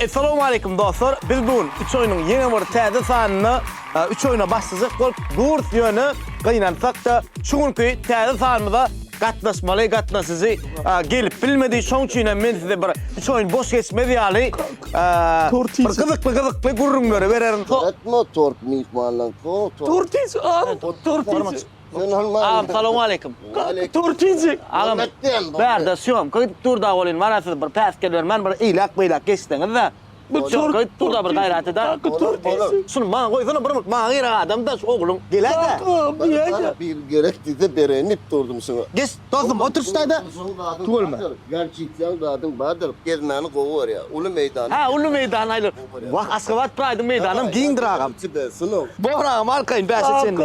Essalowmaleýkum dostlar! Biz bu gün üç oýnuň ýene bir täze sanynda üç oýna başlajak bolup durs ýöne gynansakda şu günki täze sanymyza gatnaşmaly gatnaşyjy gelip bilmedi şoň üçin hem men size bir üç oýun boş geçmez ýaly bir gyzykly gyzykly gürrüňleri bererin. Tort mu? Tort myhmanlaň. Tort iç, al. Tort iç. Agam salowm aleýkum. Turkijik. Agam. Bärde syýomka gidip dur da welin maňa siz bir päsgel bermän bir eýläk-beýläk geçseňiz-de. Bu syýomka gidip dur da bir gaýrat ede. Şuny maňa goýsana bir minut maňa gerek adam-da şu ogluň. Gel-de. Bir gerek diýse bereýin diýip durdum şuňa. Geç dostum otur şu taýda. Tüweleme. Garçitýaň zadyň bardyr. Gezmäni gowy görýär. Uly meýdan. Hä uly meýdan aýlan. Wah Aşgabat praýdyň meýdanam giňdir agam. Bor agam arkaýyn bäşe çenli.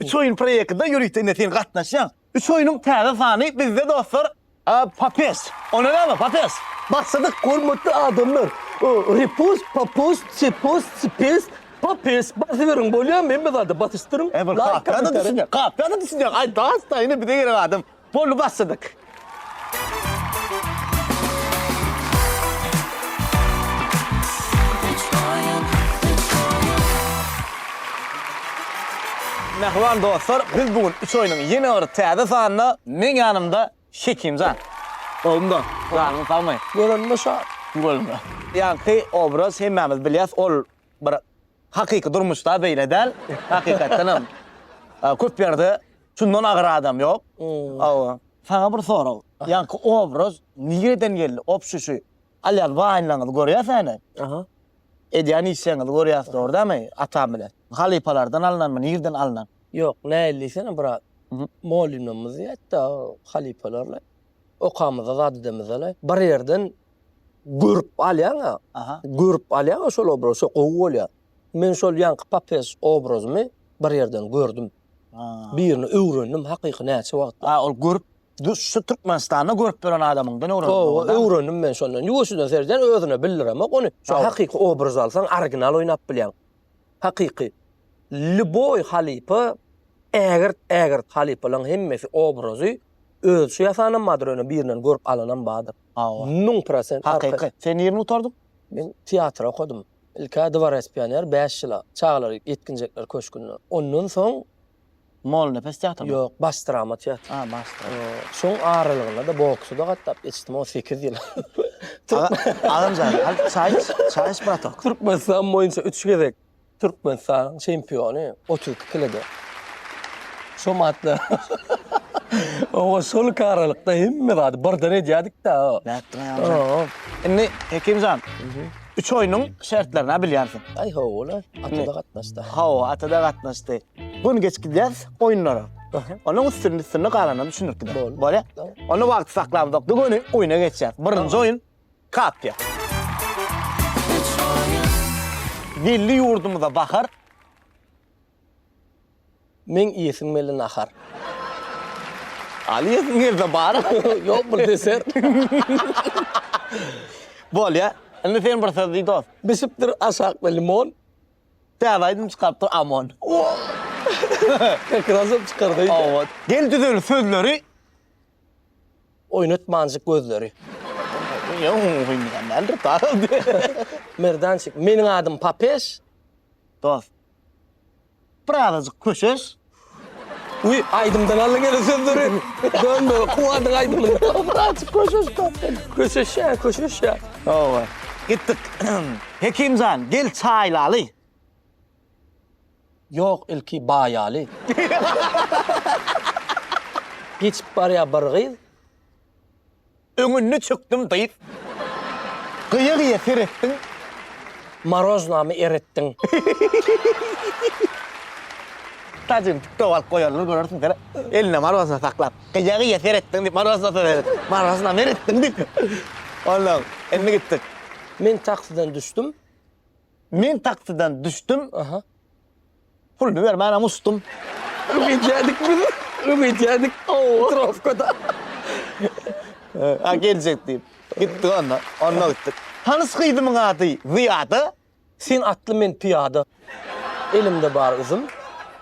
Üç oýun proýektinde ýörite indi sen gatnaşýaň. Üç oýnuň täze sany bizde dostlar. Papes. Onda näme papes. Başladyk hormatly adamlar. Repus, papus, çepus, çipes, papes. Basyberiň bolýamy hemme zada basyşdyryň. Laýk. Kakadan düşünýäň. Kakadan düşünýäň. Aý daş daýyny bize gerek adam. Boldy basdyk. Mähriban dostlar biz bu gün üç oýnuň ýene bir täze sanynda meň ýanymda Hekimjan. Gowumda janyň sagmy. Görende şat. Görende. Ýaňky obraz hemmämiz bilýäs ol bir hakyky durmuşda beýle däl. Hakykatdan hem köp ýerde şundan agyr adam ýok. Hawa. Saňa bir sorag. Ýaňky obraz nireden geldi? Obşuşy alýas waýnlaňyzy görýäs äne. Aha. Edýän işleňizi görýäs dogry dämi? Atam bilen. Halypalardan alnanmy, nireden alnan? Ýok, nähili diýsene brat. Molynymyz ýetdi halypalarly. Okamyzda zat edemizde-le. Bir ýerden görüp alýaň-a. Aha. Görüp alýaň-a şol obraz, şo gowy bolýar. Men şol ýaňky papes obrazymy bir ýerden gördüm. Birini öwrendim hakyky näçe wagtda. A ol görüp şu Türkmenistanda görüp bölen adamyňdan öwrendim. Hawa, öwrendim men şondan. Ýuwaşjadan seredýän özüne bildiremok ony. Şo hakyky obraz alsaň original oýnap bilýäň. Hakyky. Lýuboý halypa, ägirt ägirt halypalaň hemmesi obrazy özçe ýasanam bardyr ýöne birinden görüp alanam bardyr. Hawa. Müň prosent. Hakyky. Sen nirni gutardyň? Men teatr okadym. Ilk-ä dworec pioner bäş ýyla, çagalar, ýetginjekler köşgünde. Ondan soň. Molnepes teatrymy? Ýok, baş drama teatry. A, baş drama. Şoň aralygynda-da boksa-da gatnap geçdim, o sekiz ýyl. Agam jan, al çaý iç, çaý iç bratok. Türkmenistan boýunça üç gezek. Türkmenistanyň çempiony otuz iki kilede. Şo matda oňa şolki aralykda hemme zady birden edýädik-dä. Nätdiň Agamjan? Indi Hekimjan, üç oýnuň şertlerini-ä bilýänsiň. Aý hawa-la, Ata-da gatnaşdy. Hawa, Ata-da gatnaşdy. Gün geçip gidýäs oýunlara. Onuň üstüni-üstüni galanyny düşündirip gideris. Bolýa? Onda wagty saklamzok-da göni oýna geçýäs. Birinji oýun. Katýa. Geldi ýurdumyza bahar. Meň iýesim geldi nahar. Alyasym gelse bar. Ýok bir deser. Bolýa. Indi sen bir söz diý dost. Bişipdir aşakda limon. Täze aýdym çykarypdyr Amon. Ow. Kak raz hem çykar diýdi. Ow. Gel düzül sözleri. Oýnat manjyk gözleri. Merdançik, meniň adym Papež. Dost, bir azajyk köşeş. Uý, aýdymdan aldyň ene sözleri. Dönme, Kuwadyň aýdymyny. Bir azajyk köşeş dost sen. Köşeşýär, köşeşýär. Hawa, gitdik. Hekim jan, gel çaý ilaly. Ýok ilki baýaly. Geçip barýa bir gyz. Öňünde çökdüm dyz. Gyýa gyýa seretdiň. Maroznamy eretdiň. Tajyny tiktok alyp goýarlar görersiň sen. Elinde marozna saklap. Gyýa gyýa seretdiň diýip marozna seret. Maroznamy eretdiň diýip. Ondan indi gitdik. Men taksiden düşdüm. Men taksiden düşdüm. Aha. Puluny bermänem uçdum. Ögeytýädik biz. Ögeytýädik. Ow. Trofkada. Ha geljek diýip. Gitdik onda. Onda gitdik. Tanys gyzymyň ady Zyýada. Sen atly, men pyýada. Elimde bar üzüm.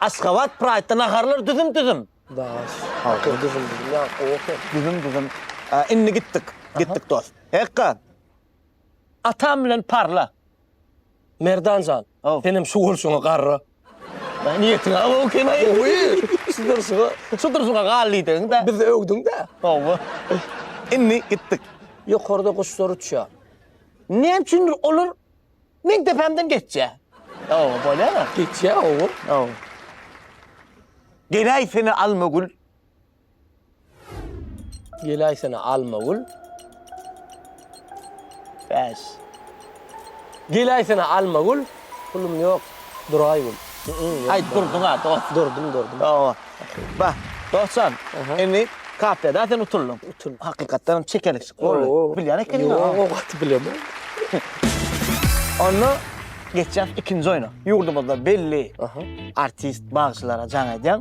Aşgabat Praýtda naharlar düzüm-düzüm. Daş. Halkyň düzüm-düzüm. Ýa, gowy. Düzüm-düzüm. Indi gitdik. Gitdik dost. Hekga. Atam bilen parla. Merdan jan, senem şu bolşuňa garra. Niýetiň aw ekeni-aý. Gowy. Şu durşuňa, şu durşuňa gal diýdiň-dä. Bizi öwdüň-dä. Hawa. Indi gitdik. Ýokarda guşlar uçýar. Näme üçindir olar meň depämden geçýär. Hawa, bolýar-a. Geçýär, hawa. Hawa. Geläý seni almagül. Geläýsene Almagül. Bäş. Geläýsene Almagül. Pulum ýok. Duraýgül. Aýt durduň-a dost. Durdum, durdum. Hawa. Ba, dostjan, indi kafeda sen utuldyň. Utuldyň. Hakykatdan hem çekelikçik boldy. Bilýän ekeniň-a. Ýok, o gaty bilemok. Onda geçýäs ikinji oýna. Ýurdumyzda belli artist, bagşylara jaň edýän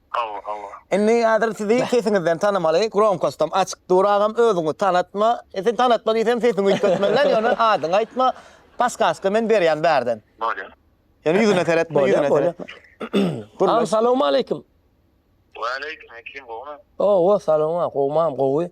Hawa hawa. Indi häzir sizi sesiňizden tanamaly gromkostam açyk dur agam özüňi tanatma e sen tanatma diýsem sesiňi üýtgetmeliler ýöne adyňy aýtma paskaska men berýän bärden. Bolýa. Ýöne ýüzüne seretme ýüzüne seretme. Agam salowmaleýkim. Waleýkim ekim gowmy. Owo salowma gowmam gowy.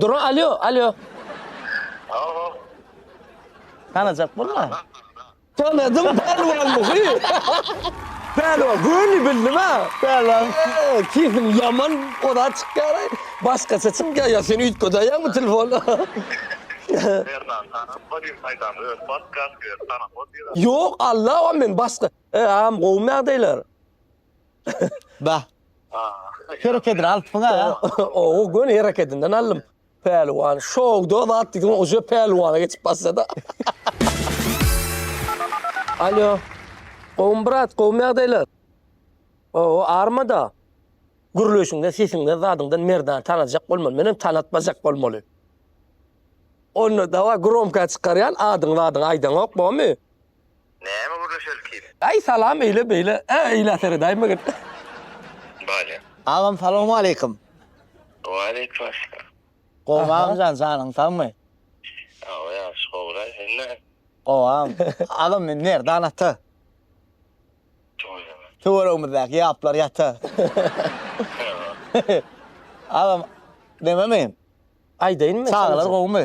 Duran alýo, alýo. Alo. Tanajak bolma. Tanadym Pälwan muhy. Pälwan göni bildim ha. Pälwan sesiň ýaman oda çykýar. Başgaça çykýar ýa sen üýtgedeýäňmi telefony. Merdan tanap bolýa saýdan öz podkast ýa tanap bolýa. Ýok Allawa men başga. Agam gowmy ýagdaýlar. Ba. Herekedini alypsyň aga. Ow, göni herekedinden aldym. Pälwan, şowda zat diýdiň, uje pälwana geçip başlady. Alýo. Gowumy brat, gowumy ýagdaýlar? Ow, armada. Gürleýşiňden, sesiňden, zadyňdan Merdany tanajak bolmaly. Menem tanatmajak bolmaly. Onda daway, gromka çykarýan, adyňy-zadyňy aýdaňok, bormy? Näme gürleşelikiň? Aý salam eýle beýle ä eýlä seredaýma git. Bale. Agam salawmaleýkim. Waleýkumesselam. Gowmy agamjan janyň sagmy. Sagbol ýagşy gowulaý sen näme. Gowam. Agam men Merdan ata. Tüweleme. Tüwelegimizdäki ýaplar ýata. Agam neme men. Aýdaýynmy. Çagalar gowmy.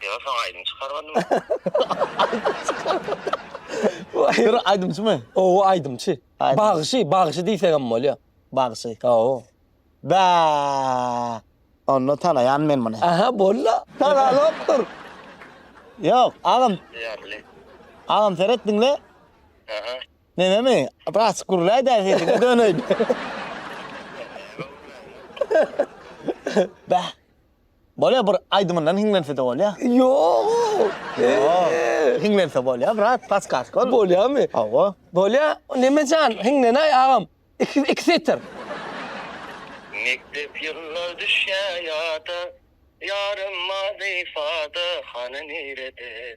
Ýa soň aýdym çykarmadym. Dur aýdymçymy? Owo aýdymçy. Bagşy, bagşy diýsegem bolýa. Bagşy. Owo. Bä! Onda tanaýan men muny. Aha bolda. Tanalokdyr. Ýok, agam. Ýarly. Agam seret diňle. Aha. Menemi biraz gürläý däl sesiňe döneýin. Bä. Bolýa bir aýdymyndan hiňlense-de bolýa. Ýoo. Ýoo. Hiňlense bolýa brat, paskask ol. Bolýamy? Hawa. Bolýa. Nemejan, hiňlenäý agam. Iki iki setir. Mekdep ýyllar düşýä ýada, Ýarym mazy fada, hany nirede?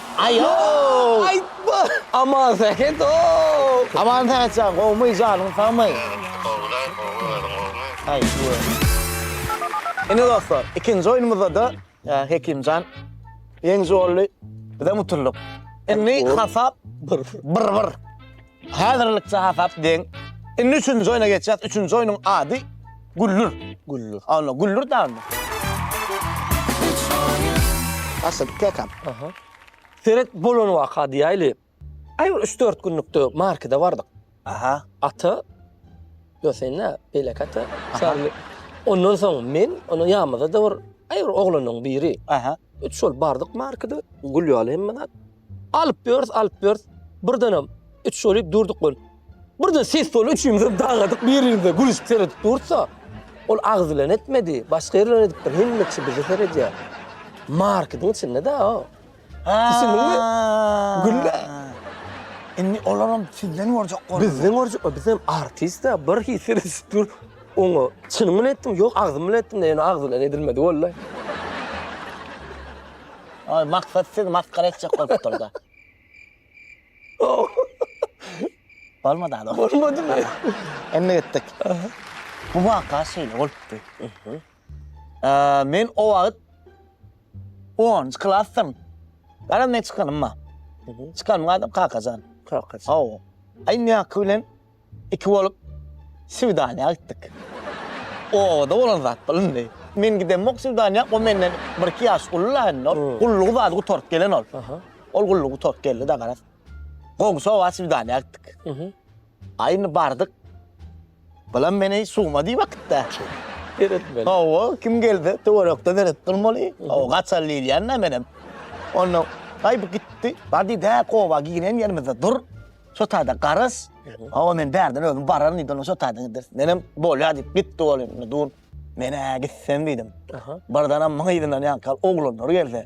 Aý ow! Aýtma! Aman Sähet ow! Aman Sähet jan, gowmy, janyň sagmy? Gowy-la, gowy, özüň gowmy? Aý ow! Ine dostlar, ikinji oýnumyzda-da Hekimjan ýeňiji boldy, bizem utuldyk. Indi hasap bir-bir. Häzirlikçe hasap deň. Indi üçünji oýna geçýäs. Üçünji oýnuň ady Güllür. Güllür. Anna Güllür damy? Asyl kakam. Aha. Seret bolan waka diýäýli. Aý bir üç-dört günlükde markede bardyk. Aha. Ata Gösenä, Belek ata. Şaly. Ondan soň men, onuň ýamyda-da bir aý bir oglanyň biri. Aha. Üç bolup bardyk markede. Gülýaly hemme zat. Alyp ýörüs, alyp ýörüs, birdenem üç bolup durduk bolup. Birden ses boldy, üçümizem dargadyk, bir-birimize gülüşip seredip durduk-da, ol agyz bilen etmedi, başga ýer bilen edipdir, hemme kişi bize seredýär. Marketiň içinde-da-a. Düşündiňmi? Gül-le. Indi olaram sizden görjek boldular. Bizden görjek boldular, bizem artist-dä, bir hili seredip dur. Oňa çynyň bilen etdiňmi? Ýok, agzym bilen etdim-de, ýöne agzy bilen edilmedi wallay. Ol maksat sizi masgara etjek bolup durdy. Bolmady adam. Bolmadymy? Indi gitdik. Bu waka şeýle bolupdy. Men o wagt onunjy klasdym. Garaz men çykanym bar. Çykanym adam Kakajan. Kakajan. Hawa. Aý indi ýaňky bilen Iki bolup Sywdanyýa gitdik. Obada bolan zat bilindi. Men gidemok Sywdanyýa, o menden bir-iki ýaş uly-la indi ol. Gullugy bady gutaryp gelen ol. Ol gullugy gutaryp geldi-de garaz. Goňşy oba Sywdanyýa gitdik. A indi bardyk. Bulam meni suwma diýip äkitdi-ä. Seretmeli. Hawa, kim gelse töwerekde seretip durmaly. Hawa, gaçaly diýilýän-dä menem. Onda, aý bu gitdi. Bar diýdi, hä, oba giren ýerimizde dur. Şo taýda garaz, hawa men bärden özüm bararyn diýdi, onuň şo taýdan gideris. Menem bolýar diýip gitdi ol indi dur. Men-ä gitsem diýdim. Birdenem muň yzyndan ýaňky oglanlar gelse,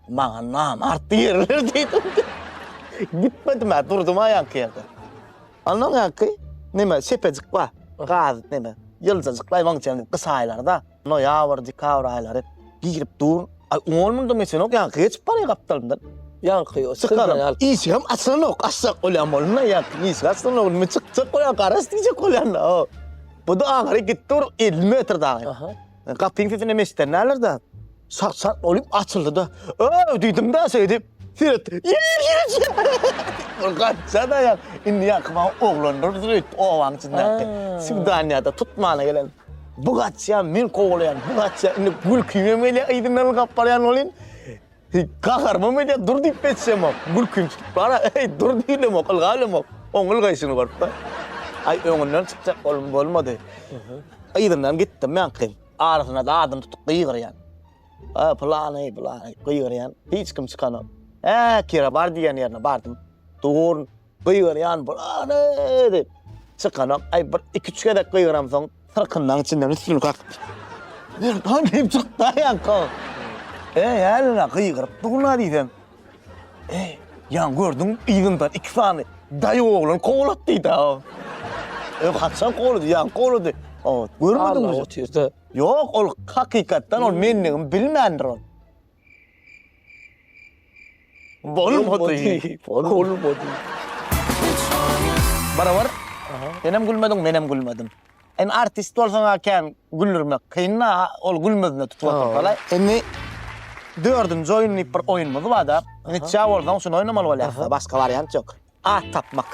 maňa namart diýerler diýdim. Gitmedim-ä, durdum-a ýaňky ýerde. Onnoň ýaňky neme sepejik bar, gaz neme, ýyljajykly aýwaň içinde gysaýlar-da. Noýabr, dekabr aýlary girip dur. Aý, ol munda meselenok, ýa geçip barýa gapdalymdan. Ýaňky ýok. Çykaryn. Işigem açylanok, açjak bolýan bolanda ýaňky işigi açylanok. Nime çykjak bolýan, garaş diýjek bolýan-da. Bu-da aňry gitdi bir elli metr dagy. Aha. Gapyň sesini hem eşidänlerdir-dä. Şak-şak bolup açyldy-da. Öw! diýdim-de şeýdip. Seret. Ýer ýerçi. Bir gaçja-da ýa. Indi ýaňky maňa oglandyr öýdüp, obanyň içindäki. Swidaniýada tutmana gelen. Bu gaçýa men kowalaýan, bu gaçýa indi gülkim hem gelýär, yzyndan ylgap barýan welin gaharymam edýär, dur diýip ýetişemok. Gülkim çykyp bara, eý dur diýilemok, ylgap bilemok. Oň ylgaýşyny görüp-de. Aý öňünden çykjak boldum, bolmady. Yzyndan gitdim men gyzyň. Arasynda zadyny tutup gygyrýan. Aý pylany, pylany gygyrýan. Hiç kim çykanok. Äkira bar diýen ýerine bardym. Dur, Gygyrýan bulany! diýip, çykanok. Aý, bir iki-üç gezek gygyramsoň, syrkyndan içinden üstüni kakypdyr. Ýankam diýip çykdy-a Ýanko. Eý, hälini-ä gygyryp dur-la diýsem. Eý, ýaň gördüň, yzyndan iki sany daýy oglan kowlady diýdi-ä o. Eý, haçan kowlady? Ýaňky kowlady. Ot, görmediňmi? Ýok, ol hakykatdan ol mendigimi bilmändir ol. Bolmady. Bolmady. Barabar. Senem gülmediň, menem gülmedim. Indi artist bolsaň-a kän güldürmek kyn-da, ol gülmezine tutup otursa-laý. Indi dördünji oýun diýip bir oýunymyz bar-da. Nitja bolsaň, şuny oýnamaly bolýarys-da, başga wariant ýok. At tapmak.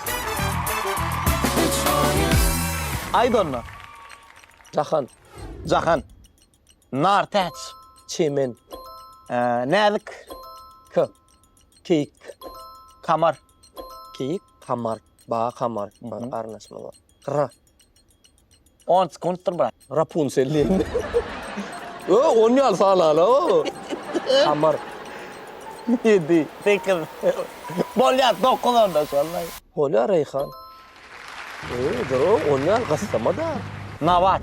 Aýt onda. Jahan. Jahan. Nar täç, çemen, näzik k, keýik, kamar, keýik, kamar, baga kamar, garyndaşymyz bar. R. On sekuntdyr brat. Rapunsel diýen. Ö, on ýaly sanala o. Kamar. Ýedi, sekiz. Bolýar, dokuz onda şonda. Bolýar, Reýhan. Ýo, on ýaly gyssama-da. Nabat.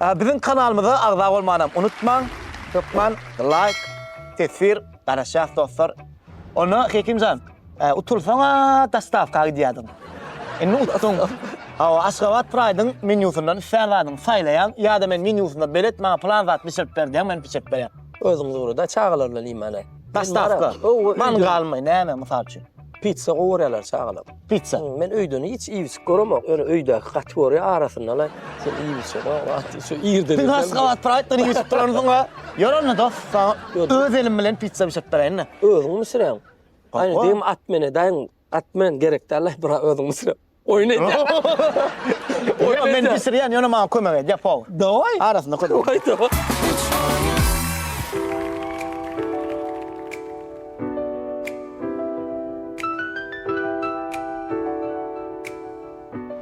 Biziň kanalymyza agza bolmanam unutmaň. Hökman laýk, teswir, garaşýas dostlar. Onda Hekimjan, utulsaň-a dostawka gidýärdiň. Indi utduň. Hawa, Aşgabat Pride-yň menýusyndan islän zadyňy saýlaýaň, ýa-da men menýusynda belet maňa plan zat bişirip ber diýýäň, men bişirip berýän. Özüňiz ugra-da, çagalar bilen iýmäne. Dostawka. Many galmaý, näme, mysal üçin. Pizza gowy görýärler çagalar. Pizza. Men öýden hiç iýip-içip göremok. Ýöne öýdäki gaty görýär, arasyndalaý şol iýip-içip. Şu irden irden. Has gabat Praýtdan iýip-içip duransyň a? Ýör onda dos, saňa öz elim bilen pizza bişirip beräýin-de. Özüňmi bişirýäň? Gaýnydegim Atmene daýyň. Atmen gerek däl-laý, bura özüň bişir. Oýun edýär. Oýun edýär. Men bişirýän, ýöne maňa kömek edýär powar. Dawai. Arasynda kömek. Dawai, dawai.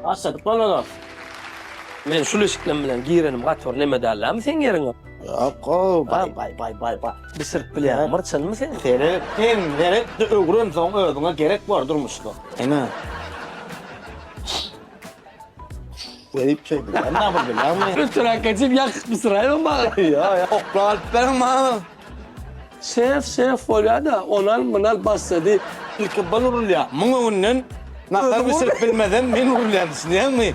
Başladyk bolmaly. Men şul eşikden bilen girenim gaty bir neme däl dämi seň ýeriňe. Akko, bay bay bay bay bay. Bir sırp bilýän myrçyny mı sen? Seret, sen seret, öwren soň özüňe gerek bar durmuşda. Ene. Verip şey bilýän, ne yapıp bilýän mi? Ötürak geçip yakıp mı sırayım mı? Ya ya, oklalıp benim ma. Şef, şef bolýar da, onal mınal bassa diýip. İlki bal urulýar, mıň öňünden nasar bir sırp bilmeden men urulýan düşünýän mi?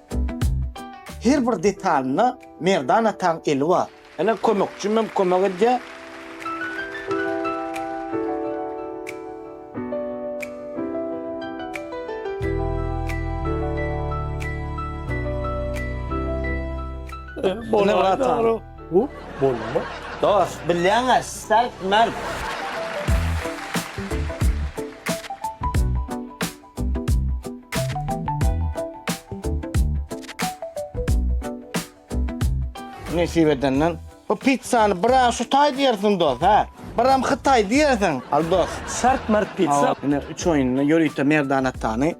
Her bir detalynda Merdan ataň eli bar. Ene kömekçim hem kömek edýär. Ene watan. Bu bolma. Dos, bilýäňä sert märd. Nesip edenden. Bu pizzany bir aý şu taý diýersiň dos, hä? Bir hem hytaý diýersiň. Al dos. Sart mart pizza. Ine üç oýunda ýörite merdan atany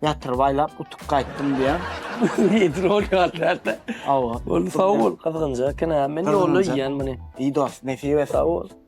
ýatyryp aýlap utup gaýtdym diýen. Nedir ol ýallarda? Awa. Ol sag bol. Gyzgynja eken ha. Men ýolda iýen muny. Iý dos, nesip et. Sag bol.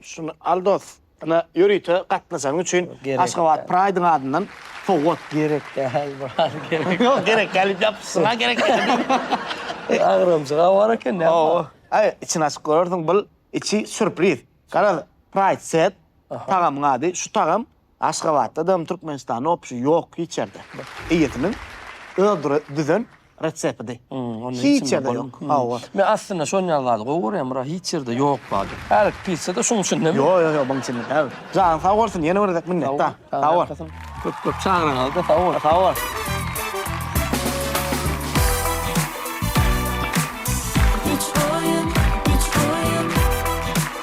Şuny al dos. Ine ýörite gatnaşanyň üçin Aşgabat Pride-yň adyndan sowgat. Gerek däl brat gerek. Ýok gerek däl diýip ýapyşyň-a gerek däl diýip. Agramjyk-a bar eken näme. Hawa. Aý içini açyp görersiň bul içi sürpriz. Garaz Pride set tagamyň ady şu tagam Aşgabatda dam Türkmenistan opşy ýok hiç ýerde. Eýesiniň öz düzen retsepidi. Hiç ýerde ýok. Hawa. Men aslynda şonýal zady gowy görýän bro hiç ýerde ýok zady. Hälik pizza-da şuň içindemi? Ýo ýo ýo buň içinde däl. Janyň sag bolsun ýene bir gezek minnetda. Sag bol. Köp köp çagyraňyzda sag bol. Sag bol.